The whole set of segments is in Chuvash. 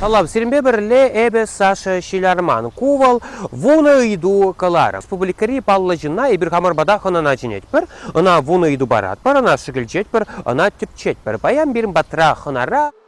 Салам, сирӗнпе пӗрле эпӗ Саша Ҫиларман. Ку вӑл вунӑ ыйту кӑлар. Республикӑри паллӑ ҫынна эпир хамӑр пата хӑнана чӗнетпӗр, ӑна вунӑ ыйту паратпӑр, ӑна шӗкӗлчетпӗр, ӑна тӗпчетпӗр. Паян пирӗн патра хӑнара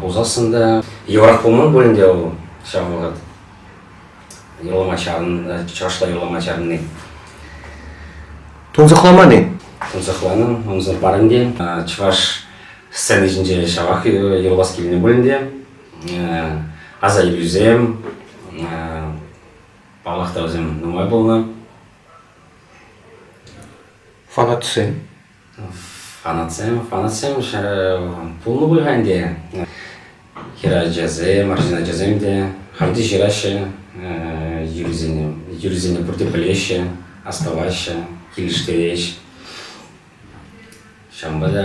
пулсассӑн та йывӑрах пулман пулин те вӑл ҫав вӑхӑт юрлама чарӑннӑ чӑвашла юрлама чарӑнни. Тунсӑхламан-и? Тунсӑхланӑ, ӑнсӑр парӑн те. Чӑваш сцена ҫинче ҫавах юрлас килнӗ пулин те аса илӳсем, паллах та вӗсем нумай пулнӑ. Фанатсем Фанатсем, фанатсем пулнӑ пуль-ха ӗнтӗ. Хӗрачасем, арҫын ачасем те хам те ҫыраҫҫӗ, юрисене, юрисене пурте пӗлеҫҫӗ, астӑваҫҫӗ, килӗштереҫ. Ҫавӑнпа та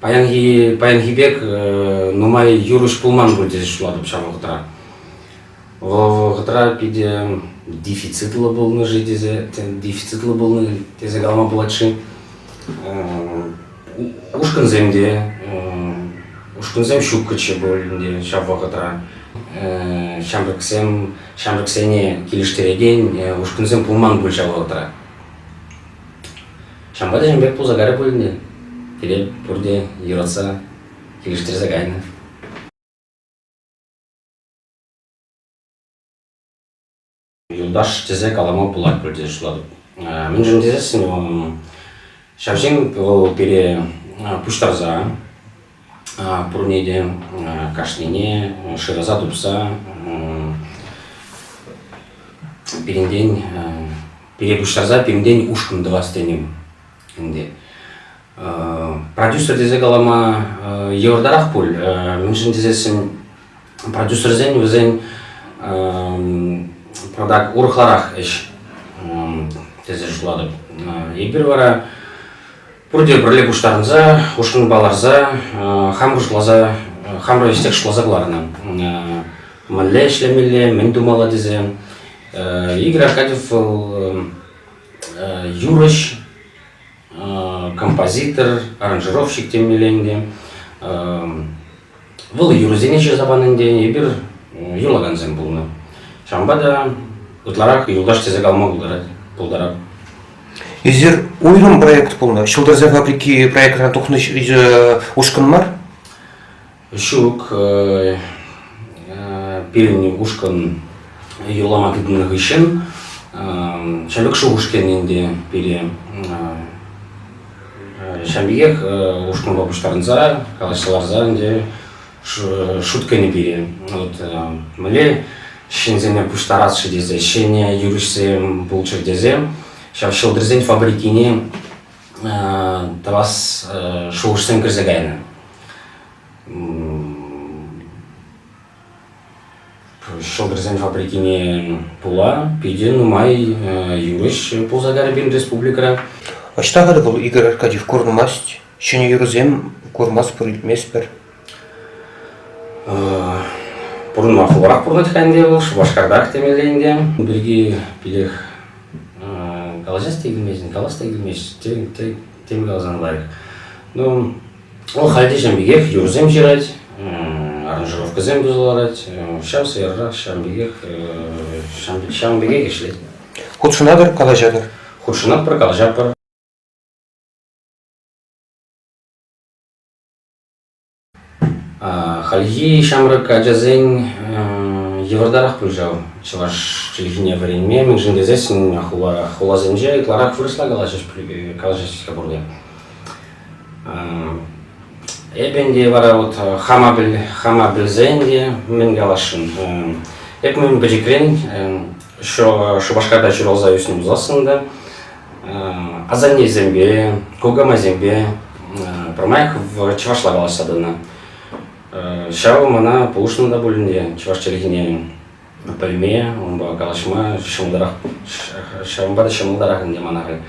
Паянхи, паянхи пек э, нумай юрӑҫ пулман пуль тесе шутлатӑп ҫав вӑхӑтра. Вӑл вӑхӑтра питӗ дефицитлӑ пулнӑ-ши тесе, дефицитлӑ пулнӑ тесе калама пулать-ши. Э, ушкӑнсем те, э, ушкӑнсем ҫуккӑччӗ пуль ӗнтӗ ҫав вӑхӑтра. Ҫамрӑксем, ҫамрӑксене килӗштерекен ушкӑнсем пулман пуль ҫав вӑхӑтра. Ҫавӑнпа та ҫын пек пулса карӗ пулин те, пире пурте юратса, килӗштерсе кайнӑ. Юлташ тесе калама пулать пурте шутлатӑп. Мӗншӗн тесессӗн ҫав ҫын вӑл пире пуҫтарса Пурне те кашнине шыраса тупса пирӗнтен пире пуҫтарса пирӗнтен ушкӑн тӑвас тенӗ ӗнтӗ. Продюсер тесе калама йывӑртарах пуль, мӗншӗн тесессӗн продюсерсен вӗсен продакт урӑхларах ӗҫ тесе шутлатӑп. Эпир вара Пурте пӗрле пуҫтарӑнса, ушкӑнпа ларса, хам хӑшласа, хамӑр ӗҫсех шутласа кӑларнӑ. Мӗнле ӗҫлемелле, мӗн тумалла тесе. Игорь Аркадьев вӑл юрӑҫ, композитор, аранжировщик темелле ӗнтӗ. Вӑл юрӑсене ҫырса панӑ ӗнтӗ, эпир юрлакансем пулнӑ. Ҫавӑнпа та ытларах юлташ тесе калма пултарать, пултарать. Ӳзер уйрӑм проект пулнӑ. Ҫӑлтӑрсен фабрики проектран тухнӑ ушкӑн мар? Ҫук. Э, э, пирӗн ушкӑн юрлама тытӑннӑ хыҫҫӑн э, Ҫӗлӗк шухӑш кӗнӗ ӗнтӗ пире Ҫавӑн пекех ушкӑнпа пуҫтарӑнса, калаҫса ларса ӗнтӗ шуткӑнӗ пире. Вот мӗнле ҫынсене пуҫтарас-ши тесе, ҫӗнӗ юрӑҫсем пулччӑр тесе, ҫав ҫӑлтӑрсен фабрикине тӑвас шухӑшсем кӗрсе кайнӑ. Ҫӑлтӑрсен фабрикине пула питӗ нумай юрӑҫ пулса кайрӗ пирӗн республикӑра. Ӑҫта хӑтӑ вӑл Игорь Аркадьев курӑнмасть, ҫӗнӗ юрӑсем курмастпӑр-илтместпӗр? Пурӑнма хуларах пурӑнать-ха ӗнтӗ вӑл, Шупашкартах темелле ӗнтӗ. Ун пирки питех калаҫас та килмест, калас та килмест, тем каласан лайӑх. Ну, Вӑл халь те ҫавӑн пекех юрӑсем ҫырать, аранжировкӑсем туса ларать. Ҫав сӑйӑррах ҫавӑн пекех ҫавӑн пекех ӗҫлет. Хутшӑнатӑр, калаҫатӑр? Хутшӑнатпӑр, калаҫатпӑр. Хальхи ҫамрӑк ачасен йывӑртарах пуль ҫав чӑваш чӗлхине вӗренме, мӗншӗн тесен хуласенче ытларах вырӑсла калаҫаҫ пуль, калаҫаҫ-ха пурте. Эпӗ ӗнтӗ вара вот хама, хама пӗлсен те мӗн каласшӑн, эп мӗн пӗчӗкрен Шупашкарта ҫуралса ӳснӗ пулсассӑн та асаннесемпе, кукамайсемпе пӗрмай чӑвашла калаҫса тӑнӑ. Ҫавӑ мана пулӑшнӑ та пуль ӗнтӗ чӑваш чӗлхине пӗлме, унпа калаҫма ҫӑмӑлтарах, ҫавӑнпа та ҫӑмӑлтарах ӗнтӗ мана халь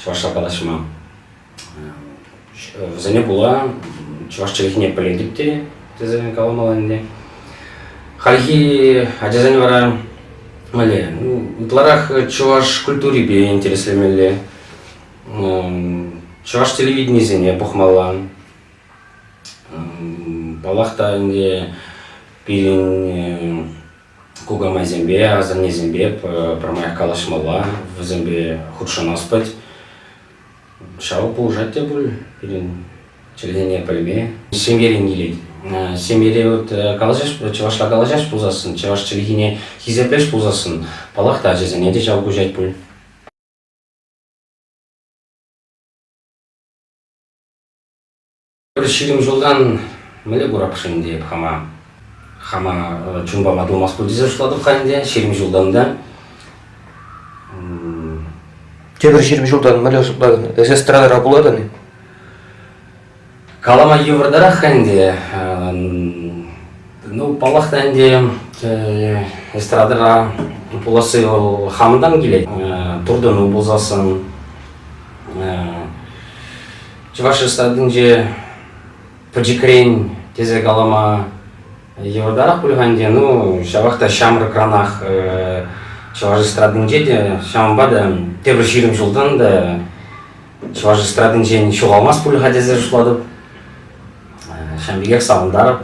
чӑвашла калаҫма. Вӗсене пула чӑваш чӗлхине пӗлетӗп те тесе каламалла ӗнтӗ. Хальхи ачасен вара мӗне ытларах чӑваш культурипе интереслемелле, чӑваш телевиденийӗсене пӑхмалла. Паллах та ӗнтӗ пирӗн кукамайсемпе, асаннесемпе пӗрмаях калаҫмалла, вӗсемпе хутшӑнаспӑт. Ҫав пулӑшать те пуль пирӗн чӗлхене пӗлме. Ҫемьерен килет. Ҫемьере вот калаҫаҫ, чӑвашла калаҫаҫ пулсассӑн, чӑваш чӗлхине хисеплеш пулсассӑн, палах та ачасене те ҫав куҫать пуль. Пӗр ҫирӗм ҫултан мӗнле курап-ши ӗнтӗ эп хама? Хама чун пама тумас пуль тесе шутлатӑп-ха ӗнтӗ ҫирӗм ҫултан та. Тепӗр ҫирӗм ҫултан мӗнле шутлатӑн? Эсӗ эстрадӑра пулатӑн-и? Калама йывӑртарах-ха ӗнтӗ. Ну, паллах та ӗнтӗ, эстрадӑра пуласси вӑл хамӑнтан килет. Туртӑну пулсассӑн, Чӑваш Республикинче пӗчӗкрен тесе калама йывӑртарах пуль-ха ӗнтӗ, ну ҫавах та ҫамрӑкранах чӑваш эстрадинче те, ҫавӑнпа та тепӗр ҫирӗм ҫултан та чӑваш эстрадинчен ҫухалмасть пуль-ха тесе шутлатӑп. Ҫавӑн пекех савӑнтарӑп.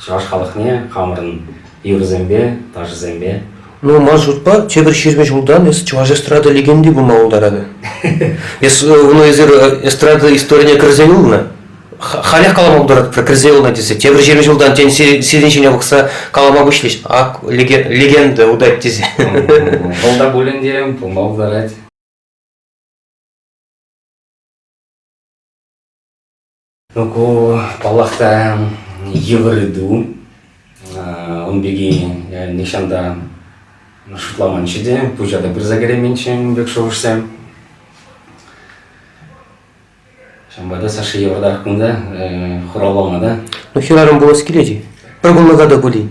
чӑваш халӑхне хамӑрӑн юрӑсемпе, ташӑсемпе. Нумай шутпа тепӗр ҫирӗм ҫултан эс чӑваш эстрада легенди пулма пултарать. Эс unu эсир эстрада историне кӗрсе юлнӑ. Халех калама пултарать про кӗрсе юлнӑ тесе. Тепӗр ҫирӗм ҫултан тен сирӗн ҫине пӑхса калама пуҫлӗҫ. Ак легенда утать тесе. Вӑл та пулин те пулма пултарать. Ку, паллах та, йывӑр ыйту. Ун пирки я нихҫан та шутламанччӗ те, пуҫа та пырса кӗрейменччӗ ун пек шухӑшсем. Ҫавӑнпа та Саша йывӑртах кунта хуралланӑ та. Ну, хӗрарӑм пулас килет-и? Пӗр кунлӑха та пулин.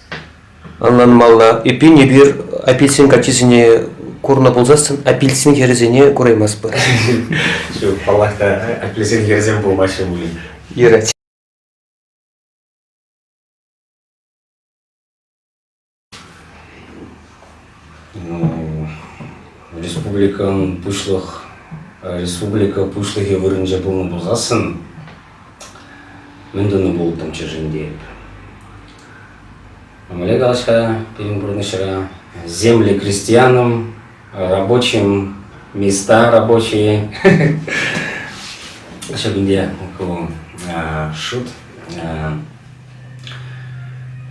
Ӑнланмалла, эппин, эпир апельсин каччисене курнӑ пулсассӑн апельсин хӗрӗсене кураймастпӑр. Ҫук, паллах та, апельсин хӗрӗсем пулмаҫҫӗ пулин. Юрать. Ну, республикӑн пуҫлӑх, республика пуҫлӑхӗ вырӑнче пулнӑ пулсассӑн Мӗн тунӑ пултӑм чӗршӗнтен. Мӗнле калаҫ-ха пирӗн пурнӑҫра? Земли крестьянам, рабочим, места рабочие. Ҫав ӗнтӗ ку шут.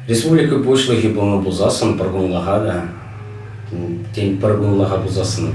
Республика пуҫлӑхӗ пулнӑ пулсассӑн пӗр кунлӑха та, тен, пӗр кунлӑха пулсассӑн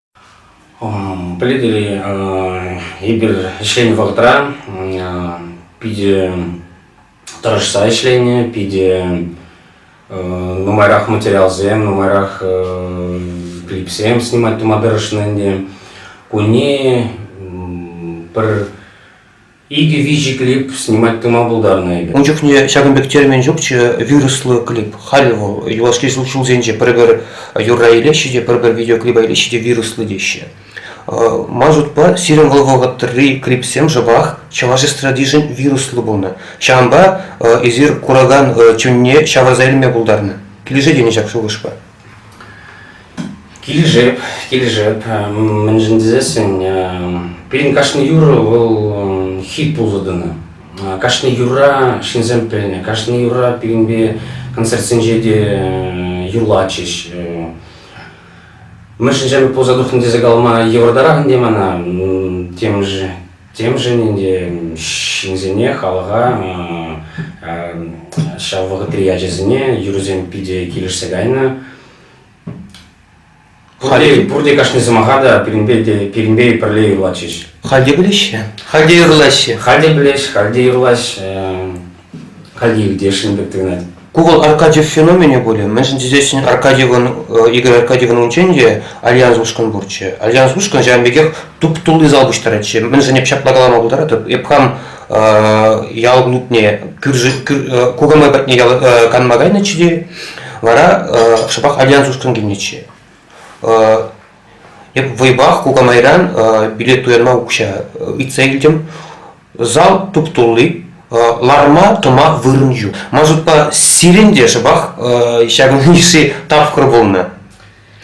Пӗлетӗр-и, эпир ӗҫленӗ вӑхӑтра питӗ тӑрӑшса ӗҫленӗ, питӗ нумайрах материалсем, нумайрах клипсем снимать тума тӑрӑшнӑ ӗнтӗ. Кунне пӗр Икӗ-виҫӗ клип снимать тума пултарнӑ эпир. Ун чухне ҫакӑн пек термин ҫукчӗ, вируслӑ клип. Халӗ вӑл юлашки ҫулсенче пӗр-пӗр юрра илеҫҫӗ те, пӗр-пӗр видеоклипа илеҫҫӗ те вируслӑ теҫҫӗ. Ман шутпа, сирӗн вӑл вӑхӑтри клипсем шӑпах чӑваш эстрадишӗн вируслӑ пулнӑ. Ҫавӑнпа эсир куракан чунне ҫавӑрса илме пултарнӑ. Килӗшет-и ҫак шухӑшпа? Килӗшеп, килӗшеп. Мӗншӗн тесессӗн пирӗн кашни юр вӑл хит пулса тӑнӑ. Кашни юрра ҫынсем пӗлнӗ, кашни юрра пирӗнпе концертсенче те юрлатчӗҫ. Мӗншӗн ҫамрӑк пулса тухнӑ тесе калама йывӑртарах ӗнтӗ мана. Темӗш Темшӗн ӗнтӗ ҫынсене, халӑха ҫав вӑхӑтри ячӗсене юрӑсем питӗ килӗшсе кайнӑ. Пурте, пурте кашни сӑмаха та пирӗнпе те пирӗнпе пӗрле юрлатчӗҫ. Халь те пӗлеҫҫӗ, халь те юрлаҫҫӗ. Халь те пӗлеҫ, халь те юрлаҫ. Калли илтесшӗн пек туйӑнать. Google Аркадьев феноменӗ пулӗ. Мӗншӗн тесессӗн Аркадьевӑн, э, Игорь Аркадьевӑн унччен те Альянс ушкӑн пурччӗ. Альянс ушкӑн ҫавӑн пекех туп-тулли зал пуҫтаратчӗ. Мӗншӗн эп ҫапла калама пултаратӑп? Эп хам э, ял клубне э, кукамай патне ял, э, канма кайнӑччӗ те, вара э, шӑпах Альянс ушкӑн килнӗччӗ. Э, эп вӑйпах кукамайран э, билет туянма укҫа э, ыйтса илтӗм. зал туп-тулли, ларма-тӑма вырӑн ҫук. Ман шутпа, сирӗн те шӑпах ҫакӑн йышши тапхӑр пулнӑ.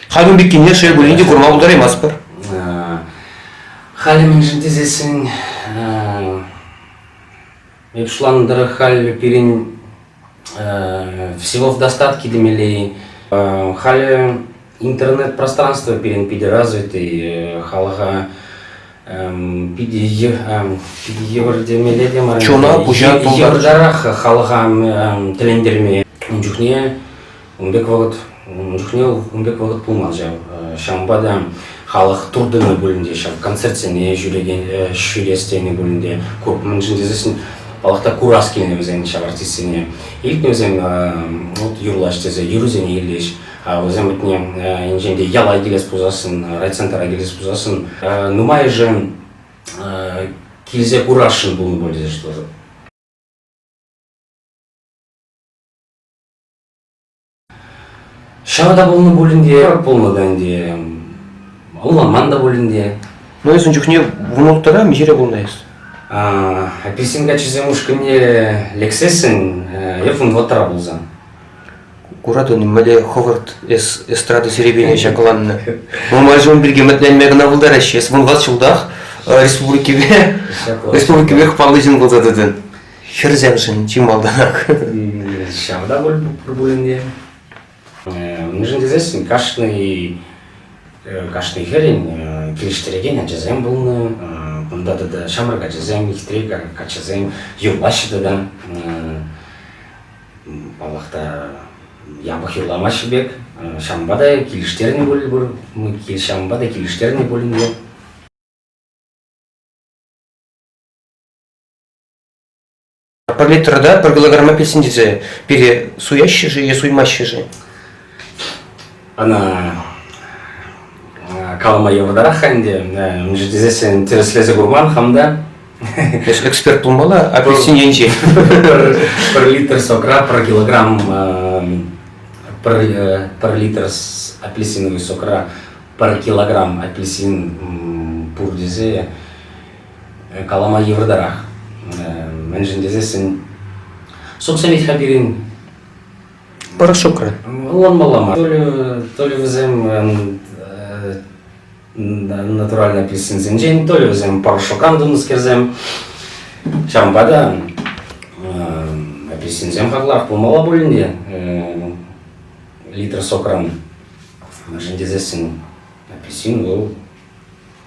Халӗ пеккине шел пулин те курма пултараймастпӑр. Халӗ мӗншӗн тесессӗн эп шутланӑ тӑрӑх халь пирӗн всего в достатке темелей. Халӗ интернет-пространство пирӗн питӗ развитый, халӑха питӗ евӗртемелле те мар. Чуна пуҫа тултар. Евӗртарах халӑха тӗлӗнтерме ун чухне Ун пек вӑхӑт, ун чухне ун пек вӑхӑт пулман ҫав. Ҫавӑнпа та халӑх туртӑннӑ пулин те, ҫав концертсене ҫӳрекен, ҫӳрес тенӗ пулин те, мӗншӗн тесен паллах та курас килнӗ вӗсен ҫав артистсене. Илтнӗ вӗсем вот юрлаҫ тесе, юрӑсене илӗҫ. Вӗсем патне енчен те яла килес пулсассӑн, райцентра килес пулсассӑн нумайӑшӗ килсе курасшӑн пулнӑ пуль тесе шутлатӑп. Ҫава та пулнӑ пулин те, пулнӑ та ӗнтӗ. Ӑнланман та пулин те. Ну, эс ун чухне вунулттӑра миҫере пулнӑ эс? Апельсин каччисем ушкӑнне лексессӗн эп вунвӑттӑра пулсан. Куратӑн, мӗнле хӑвӑрт эс эстрада серепине ҫакланнӑ. Нумай ҫул пирки ӗмӗтленме кӑна пултараҫҫӗ. Эс вунват ҫултах республикипе республикипе паллӑ ҫын пулса тӑтӑн. хӗрсемшӗн чи малтанах. Ҫавӑнта пуль пулин Мӗншӗн тесен кашни кашни хӗрӗн килӗштерекен ачасем пулнӑ. Унта тата ҫамрӑк ачасем, хитре каччӑсем юрлаҫҫӗ тата. Паллах та япӑх юрламаҫҫӗ пек. Ҫавӑнпа та килӗштернӗ пуль пур, ҫавӑнпа та килӗштернӗ пулин те Парлитрӑта пӗр килограмма песен тесе пире суяҫҫӗ-ши е суймаҫҫӗ-ши? Ӑна калама йывӑртарах-ха ӗнтӗ. Э, унччен тесессӗн тӗрӗслесе курман хам та. Эксперт пулмалла апельсин енче. Пер литр сокра, пер килограмм, э, пер литр апельсиновый сокра, пер килограмм апельсин пур тесе калама йывӑртарах. Мӗншӗн тесессӗн сукса митха пирӗн Порошокра. Ӑнланмалла мар. То ли, то ли вӗсем натуральный апельсинсенчен, то ли вӗсем порошокран тунӑскерсем. Ҫавӑнпа та апельсинсем хаклах пулмалла пулин те литр сокран мӗншӗн тесессӗн апельсин вӑл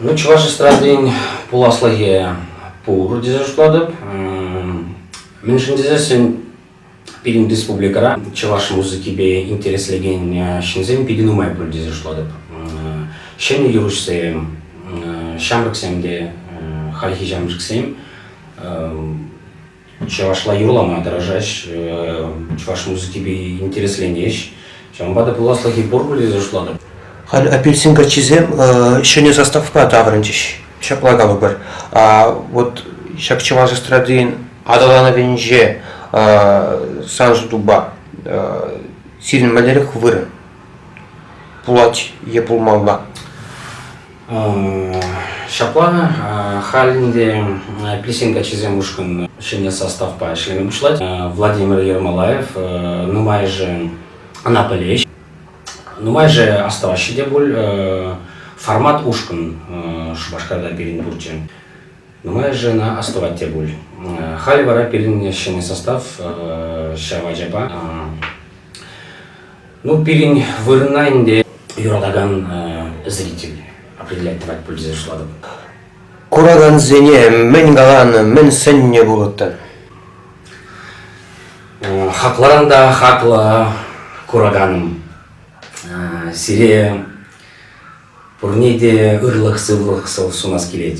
Ну, чӑваш эстрадин пуласлӑхӗ пур тесе шутлатӑп. Мӗншӗн тесессӗн пирӗн республикӑра чӑваш музыкипе интереслекен ҫынсем питӗ нумай пуль тесе шутлатӑп. Ҫӗнӗ юрӑҫсем, ҫамрӑксем те, хальхи ҫамрӑксем чӑвашла юрлама тӑрӑшаҫ, чӑваш музыкипе интересленӗҫ. Ҫавӑнпа та пуласлӑхӗ пур тесе шутлатӑп. Халь апельсин каччисем ҫӗнӗ заставкӑпа таврӑнчӗҫ. Ҫапла калӑпӑр. Вот ҫак чӑваш эстрадин аталанӑвӗнче сан шутупа сирӗн мӗнлерех вырӑн пулать е пулмалла? Ҫапла, халь ӗнтӗ пирсен каччисем ушкӑн ҫӗнӗ составпа ӗҫлеме пуҫлать. Владимир Ермолаев нумайӑшӗ ӑна пӗлеҫ. Нумайӑшӗ астӑваҫҫӗ те пуль формат ушкӑн Шупашкарта пирӗн пурччӗ. Нумайӑшӗ ӑна астӑвать те пуль. Халь вара пирӗн ҫӗнӗ состав ҫав ачапа Ну, пирӗн вырӑна ӗнтӗ юратакан зритель определять тӑвать пулчӗ шутлатӑп. Куракансене мӗн каланӑ, мӗн сӗннӗ пулӑттӑр? Хакларан та хаклӑ кураканӑм. Сире пурне те ырлӑх-сывлӑх сӑв сунас килет.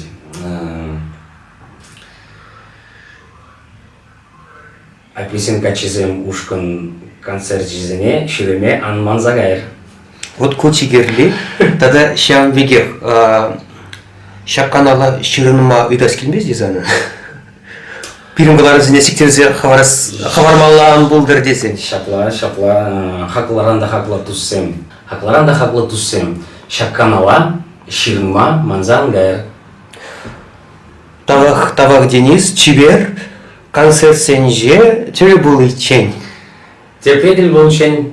Ачисен каччисем ушкӑн концерчӗсене ҫӳреме ан манса кайӑр. Вот ку чикерли тата ҫавӑн пекех ҫаканала ҫырӑнма ыйтас килмест-и сана? пирӗн кӑларӑсене сиктерсе хӑвармалла ан пултӑр тесен. Ҫапла, ҫапла, хаклӑран та хаклӑ туссем, хаклӑран та хаклӑ туссем, ҫак канала ҫырӑнма манса ан кайӑр. Тавах, тавах, Денис, чипер. Концертсенче тӗл пуличчен. Тепре тӗл пулччен.